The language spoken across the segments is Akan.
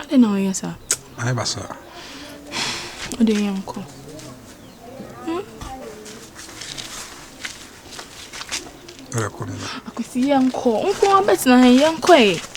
Adɛn na ɔyɛ saa? Ayɛ ba saa. Ɔde yɛ nkɔ. Hmm? Ɛrɛ kɔ nina. Akwasi yɛ nkɔ. Nko abɛtena ha yɛ nkɔ ɛ.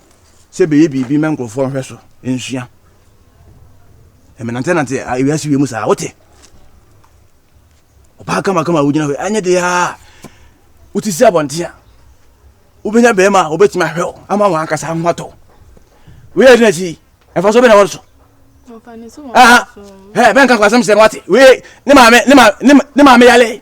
sɛ bɛyɛ biribi ma nkurɔfoɔ nhwɛ so nsua ɛmenantenante awiase wie mu saa wote ɔbaa kamakama a wogyina hɔ anyɛ de a wote si abɔnten a wobɛnya bɛrima a wɔbɛtumi ahwɛ wo ama wɔn ankasa ho atɔ woyɛ de n'akyi ɛfa so bɛna wɔn so bɛnka kwasɛm sɛ no wate wei ne maame ne maame yale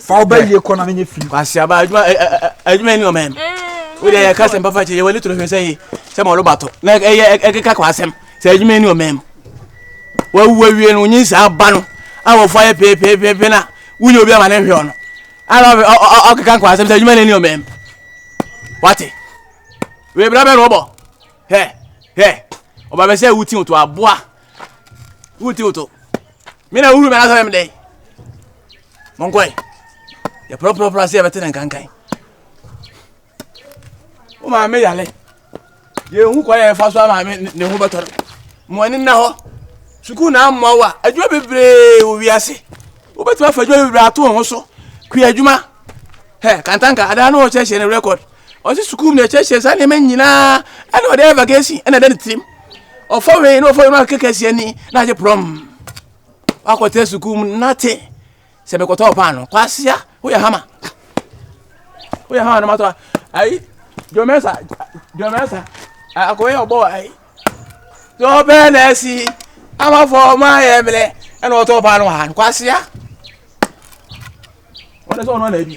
fa wo bɛ yie kɔ na ne nyɛ fii kwasiaba adwuma adwuma ni ɔmɛm wode yɛ ka sɛm papa kyɛ yɛ wani toro hwɛ sɛ yi sɛ ma ɔlo bato na ɛyɛ ɛkeka kɔ asɛm sɛ adwuma ni ɔmɛm wawu awie no wonyi saa ba no a wɔfo ayɛ peepeepeepe na wonyɛ obi ama ne nhwɛ ɔno ana ɔkeka kɔ asɛm sɛ adwuma ni ɔmɛm wate webra bɛ no ɔbɔ hɛ hɛ ɔba bɛ sɛ wuti to aboa Who tilt o? Me na wuru me na sɛ me dɛn? Monkɔe. Yɛ prɔprɔprɔ ase yɛbɛte ne nkankan. Wo maame yale. Yɛhu kwan yɛn fa so ama ne ho bɛtɔ no. Mo ani nna hɔ. Sukuu na amoa wo a adwuma bebree wɔ wiase. Wobɛtumi afa adwuma bebree ato ho so. Kua adwuma. Hɛ kantanka adaa no wɔkyerɛkyerɛ ne rekɔd. Ɔsi sukuu mu na ɛkyerɛkyerɛ saa nneɛma nyinaa ɛna ɔde ayɛ vacation ɛna ɛda ne tirim. Ɔfɔ wei na ɔfɔ wei na ɔkeka si ani na agye prɔm. Wakɔtena sukuu mu nate sɛ mekɔtɔ paano kwasia woyɛ hama woyɛ hama no matɔ ayi jɔmɛsa jɔmɛsa akɔyɛ ɔbɔ ayi Deɛ ɔbɛn na asi amafo ɔmo ayɛ mmerɛ ɛna ɔtɔ paa no wɔ ha no kwasia ɔno sɛ ɔno na bi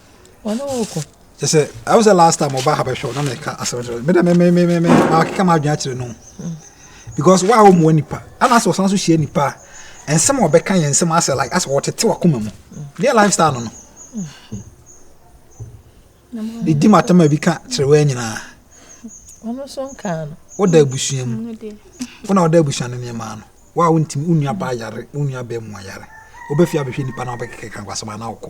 ɔne wo kɔ kyɛ sɛ ɛwo sɛ last time ɔba ha bɛhwɛ wo na na ɛka asɛm kyerɛ me dɛ me me me me me makeka ma adwene akyerɛ no because wo a wo mmoa nipa ana sɛ ɔsan so hyia nipa a nsɛm a ɔbɛka yɛ nsɛm asɛ like asɛ ɔtete wakoma mu deɛ lifestyle no no de di matama bi ka kyerɛ wo nyinaa ɔno so nkaa no woda abusua mu wo na woda abusua no nneɛma no wo a wontimi wo nua baa yare wo nua bɛɛ mu ayare wobɛfie abɛhwɛ nipa na wobɛkeka kwasɛm ana wokɔ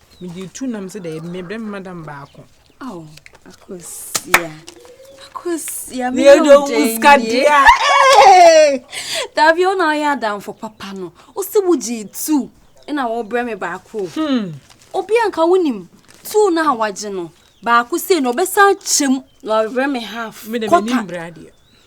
Mede tu nam sɛ dɛ mebrɛ me madam baako. Oh, akosia. Akosia me yɛ wo dɛ nkadia. Dabi o na ɔyɛ adamfo papa no. O si wo gye tu na wo brɛ me baako. Hmm. Obi anka wonim tu na awagye no. Baako sei na ɔbɛsan kyɛm na ɔbrɛ me half. Me de me nim brɛ adeɛ.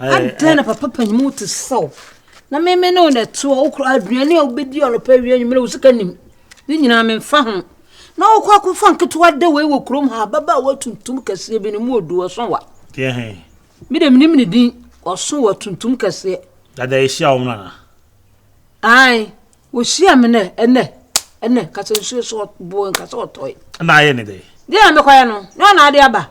adɛn na papa panyin wo te sɛ wo na meme ne wo na ɛte hɔ wokora aduane a wobɛdi anɔpa awie anwummerɛ wo sika nim ne nyinaa memfa ho na wokɔ akɔfa nketewa da wei wɔ kurom ha bɛba a woatuntum kɛseɛ bi no mu ɔdu ɔso wa mede menim ne din ɔso wa tuntum kɛseɛ dada ɛhyia wo mrana ae wɔhyia me nɛ ɛnɛ ɛnɛ kasɛ nsuo so boɔ nkasɛ ɔtɔe na ayɛ ne dɛ deɛ a mekɔyɛ no na ɔna ade aba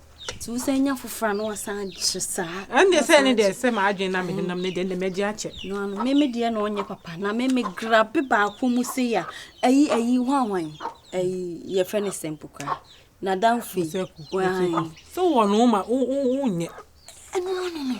nti wo sɛ nya foforɔ a na wasan agye saa ɛnde sɛ ne deɛ sɛ maadwene na mede nam ne deɛ ndɛmagye akyɛ no ano meme deɛ na ɔnyɛ papa na meme grabe baako mu se ya ayi ayi ho ahwan ayi yɛfrɛ ne sɛmpo koraa na damfo yi sɛ wɔ no ma wonyɛ ɛno ano no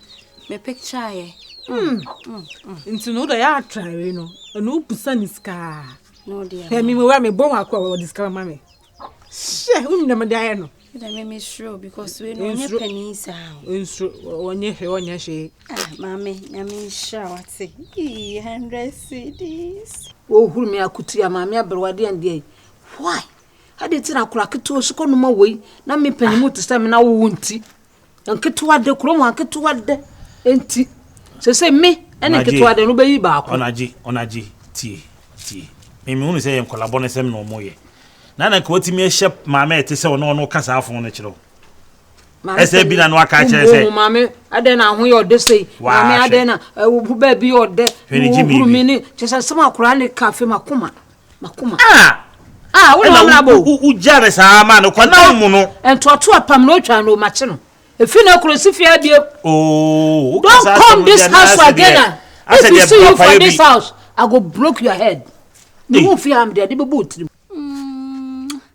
mepicture yɛ. Hmm. Hmm. Hmm. nti no wodɔ yɛ atrare no ɛna wobusa ne sikaa ɛmi mewura mebɔ ho akora wɔde sika ma me hyɛ wonim dɛ mede ayɛ no nsuro ɔnyɛ hwɛ ɔnyɛ hwee ah, maame nyame nhyira wate 100 cds wɔhuru me akotua maame aberewadeɛ andeɛ yi why ade ti na akora ketewa so kɔnoma wei na mepanimu te sɛ me na wowo nti Nketewade, kurom aketewade nti. Seesei me ne nketewade no bɛyi baako. Ɔnagye, ɔnagye, tie, tie. Me mehunu sɛ yɛ nkɔla bɔnesɛm na ɔmo yɛ. Na na nka watumi ahyɛ maame a ɛte sɛ ɔno ɔno ka saa fon no kyerɛ wo. Ɛsɛ bi na no aka kyerɛ sɛ. Maame adɛn na ho yɛ ɔde sei. Maame adɛn na baabi yɛ ɔdɛ. Hwɛ ne gyi mi bi. Kyɛ sɛ nsɛm akora ne ka afei makoma. M'akoma. Ah! Ah, wo na Ɛna wamena bɔ wo- o. wo- wogyaa me saa maa no kɔnam mu no. Ntoatoa apam na otwaa no o, makye no. Efi na koro si fie abiem. Oo, woka Don't saa come asɛm this deɛ, na house asɛ again deɛ- ah. asɛ If you deɛ see you papa yɛ for bi. this house, I go broke your head. Me Ei. hu fie ha, mede ade bɛbɔ wo tirim.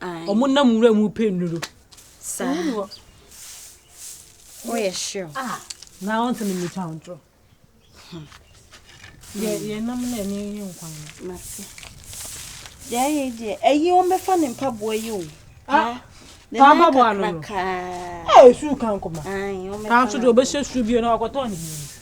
Ɔmo nam nwura mu pɛ nnuro. Saa. Woyɛ sure. Ah, na wɔn sɛ mimi twa ntoro. Hmm. Yɛ yɛ nam na ɛne yɛ nkwan no. Mate. Deɛ ayɛ deɛ ɛyi wɔn bɛfa ne mpaboa yi o. Ah. Taa mpaboa no no. Ɛɛ su kan kɔma. Kan so deɛ ɔbɛhyɛ su bio na wakɔtɔ ne yie.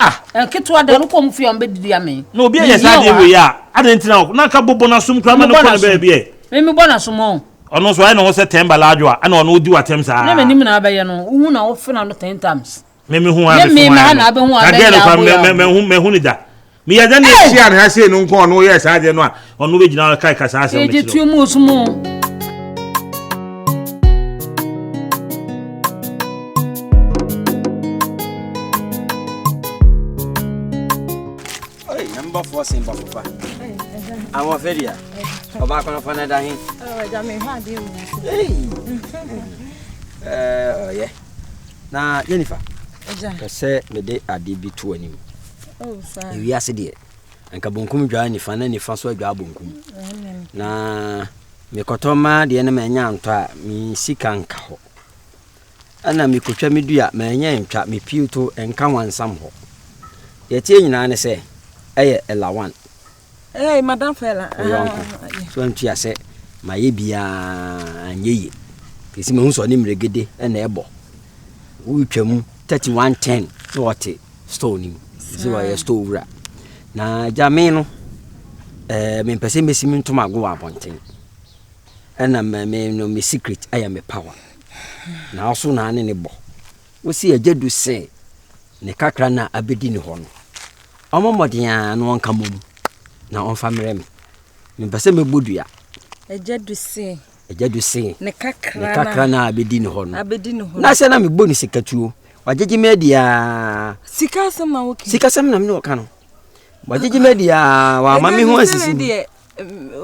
Ah, nketewa dɛn no kɔn mu fie a wɔn bɛdidi ame. Na obi ayɛ saa adeɛ wei a, adɛn nti na wo na nka bobɔ no asom koraa ma no kɔ ne baabi ɛ. Me mebɔ no asom o. Ɔno nso ayɛ ne ho sɛ ten ba large wa, ɛna ɔno odi w'atɛm saa. Ne m'anim na abɛyɛ no, wohu na wofe na no ten times. Me mehu a mefe ho ayɛ no, na girl no koraa mahu no da. Meyɛ dɛn na ɛhyia ne ha sei no nko a ɔno yɛɛ saa adeɛ no a. ɔno bɛgyina hɔ kae ka saa asɛm no kyerɛ mu som o mbɔfoɔ se mbɔfofa ahoɔfɛ dea ɔbaako no fa no da he ɔyɛ na jennifer pɛ sɛ mede ade bi to anim ewiase deɛ anka bonkum dwaa nifa na nifa nso adwaa bonkum na mekɔtɔ maa deɛ no manya ntɔ a me sika nka hɔ ɛna mekɔtwa me dua manya ntwa me piw to nka wansam hɔ yɛteɛ nyinaa ne sɛ ɛyɛ ɛlawan Hey, Madam Fela. Oyonko. So antua sɛ ma yɛ biara nyɛ yie. Kesi mahu sɛ ɔne mmerɛgede na ɛbɔ. Wotwa mu thirty one ten na ɔte store no mu ɛsɛ ɔyɛ store wura na gya me no ɛɛ mempɛ sɛ mesi me ntoma ago wɔ abɔnten ɛna mɛ me no me secret ɛyɛ me power na ɔso na ne ne bɔ wosi agya du sɛ ne kakra na abɛdi ne hɔ no ɔmo mmɔden a na ɔnka mom na ɔmfa mmerɛ me mempɛ sɛ mɛbɔ dua agya du se agya du se ne kakra no a bɛdi ne hɔ no na sɛ na mebɔ ne sikatuo wagyegye me adiaa sikasɛm na mene ɔka no wagyegye me adiaa wama me ho asisi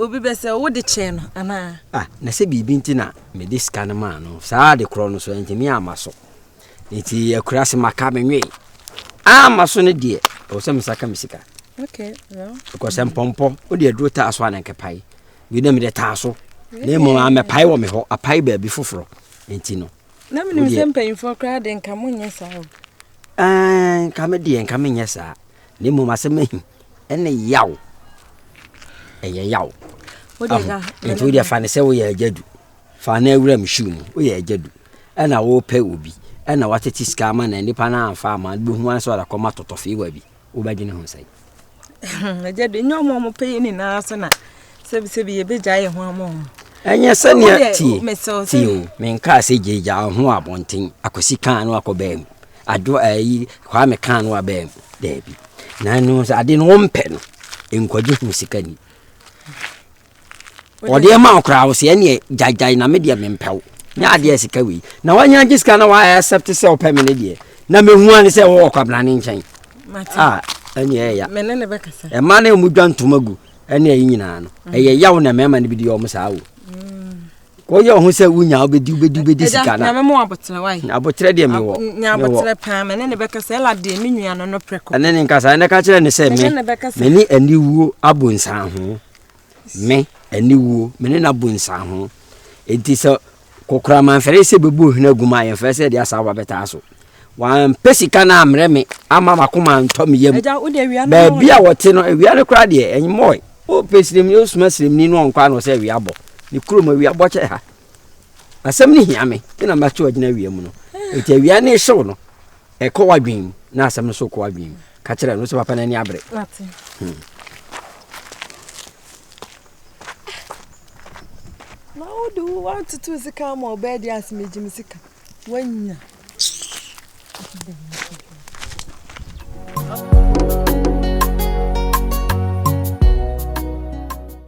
obi bɛ sɛ wode kyɛɛ no anaa ah, na sɛ biribi nti na mede sika no maa no saa de korɔ no so ɛntimi ama so nti akura se maka menwee ama so no deɛ ɛwɔ sɛ mesaka me sika because mpɔmpɔ wode aduro taa so a na nkɛpae wei na mede taa so na mmom amɛpae wɔ me hɔ apae baabi foforɔ nti no na menim sɛ mpanyimfoɔ koraa de nka monyɛ saa o nka me deɛ nka menyɛ saa na mmom asɛm ahi ɛne yaw ɛyɛ yaw nti wodeɛ fa ne sɛ woyɛ agya du fa no awura me shoe mu woyɛ agya du ɛna wopɛ obi ɛna watete sika ama na nipa no amfa ama bɛhu ane sɛ ɔdakɔma totɔfeewa bi wobɛdwene ho sɛn agya de nyɛ ɔmo ɔmo pɛ yɛ nyinaa so na sɛbisɛbi yɛbɛgya yɛ ho ama ɔmo ɛnyɛ sɛnea tie tie o menkaa sɛ gyagya ho abɔnten akɔsi kaa no akɔ baa mu ado ayi kwaa me kaa no abaa mu daabi na ɛno sɛ ade no wompɛ no nkwagye hu sika ni ɔdeɛ ma ɔkoraa wo sɛ ɛneɛ gyaegyae na me deɛ mempɛ wo nyɛ adeɛ sika wei na wanya gye sika na waayɛ accept sɛ ɔpɛ me ne deɛ na mehu ane sɛ wɔwɔ kwabena ne nkyɛn a ɛneɛ ɛya ɛma ne ɔmu dwa ntoma gu ɛne ɛyi nyinaa no mm. ɛyɛ yaw na mmarima no bi deɛ ɔmo saa o mm. wɔyɛ ɔho sɛ wonya wobɛdi wobɛdi wobɛdi sika no aboterɛ deɛ mewɔ ɛne ne nkasa ɛnɛ ka kyerɛ ne sɛ me mene aniwuo abonsan ho Me, aniwuo, me ne no abu nsaho. Enti sɛ kokoraman fɛre sɛ bɛbu ohene agu mu a, yɛmfɛre sɛ yɛde asaawa bɛtaa so. Wampɛ sika no ammrɛ me ama m'akoma antɔ me yam. Baabi a wɔte no, awia no koraa deɛ, ɛmmɔe. Wopɛ siremni, wosoma siremni no ɔnkɔ ano sɛ awia bɔ. Ne kurom awia bɔ kyɛ ha. Asɛm no hia me, me na mɛto agyina awia mu no. Enti awia no rehyew no, Ɛkɔ w'adwene mu na asɛm no so kɔ w'adwene mu. Ka kyerɛ no sɛ papa no ani abere. Hmm. Na wode wo woatoto sika ama ɔbaa di ase megye me sika. Woanya.